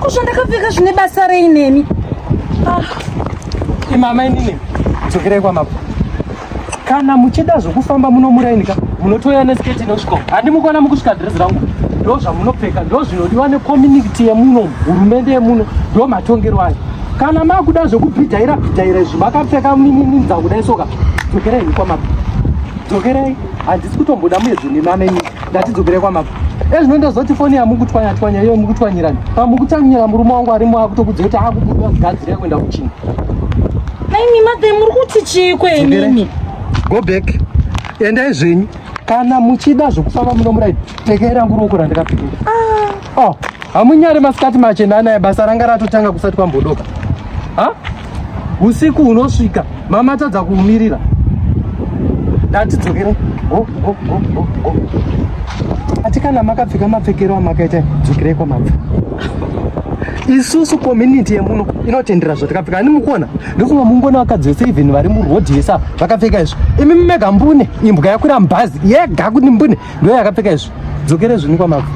Ko zvandakapfeka zvine basa rei nemi? Ah. Imama inini dzokerai kwamabva. Kana muchida zvokufamba muno muraini ka munotouya nesketi inosvika. Handimukona mukusvika dhirezi rangu. Ndo zvamunopfeka ndo zvinodiwa nekomuniti yemuno hurumende yemuno ndo matongerwo ayo. Kana makuda zvokubhidhaira bhidhaira izvi makapfeka minininza kudai soka dzokerai kwamabva. Dzokerai handisi kutomboda muedzwe nemama inini. ngatidzokere kwamako ezvino ndozoti foni yamukutswanya tswanya iyo mukutswanyirani pamukutsanyira murume wangu arimo akutokudzira kuti akubuda kugadzira yekuenda kuchina naimi madhe muri kuti chii kwenini go back endai zvenyu kana muchida zvokufamba muno muraidi tekei rangu ruoko randakapikira ah. oh, hamunyari masikati machena anaya basa ranga ratotanga kusati kwambodoka ha usiku unosvika mama atadza kuumirira ndati dzokere ati kana makapfeka mapfekero amakaita dzokerei kwamabva isusu community yemuno inotendera zvatakapfeka ani mukuona ndofunga mungona vakadzi vese even vari muroad yesa vakapfeka izvo imi mumega mbune imbwa yakwira mubhazi yega kuti mbune Ndo yakapfeka izvi. Dzokere zvini kwa mabvu.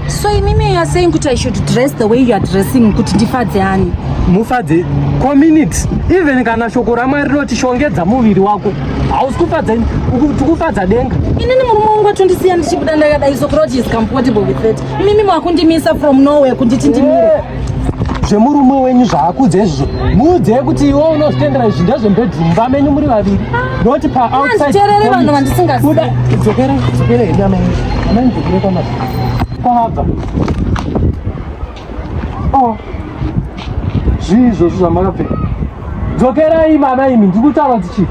So imimi you are saying kuti I should dress the way you are dressing kuti ndifadze ani? Mufadze community even kana shoko ramwari rinoti shongedza muviri wako hausi kufadza ini tikufadza denga inini murume wangu atondisiya ndichibuda ndakadai so crotch is comfortable with that imimi makundimisa from nowhere kunditi ndimire zvemurume wenyu zvaakudze izvozvo muudze kuti iwe unozvitendera izvi ndezvembedroom vamenyu muri vaviri noti paoutsidedzokere vanhu vandisingazidzokere dzokere hedu amai amai dzokere kwama kwavabva o oh. zvii izvozvo zvamakapfeka dzokerai mama imi ndikutaura dzichii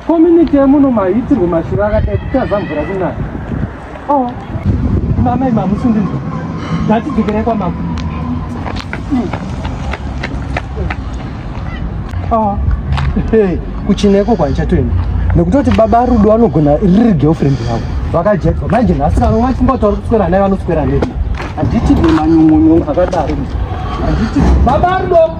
Community yemuno mahitirwe mashura akadai kutaza mvura kunaya. Oh. Mama ima musindi. Dati dzikere kwa mama. Hmm. Oh. Hey, kuchineko kwa chatoenda. Nekutoti baba Rudo anogona riri girlfriend yavo. Vakajekwa. Manje nhasi kana mwa chimbo tori kuswera naye vanoswera naye. Handiti nemanyungunyu akadaro. Handiti baba Rudo.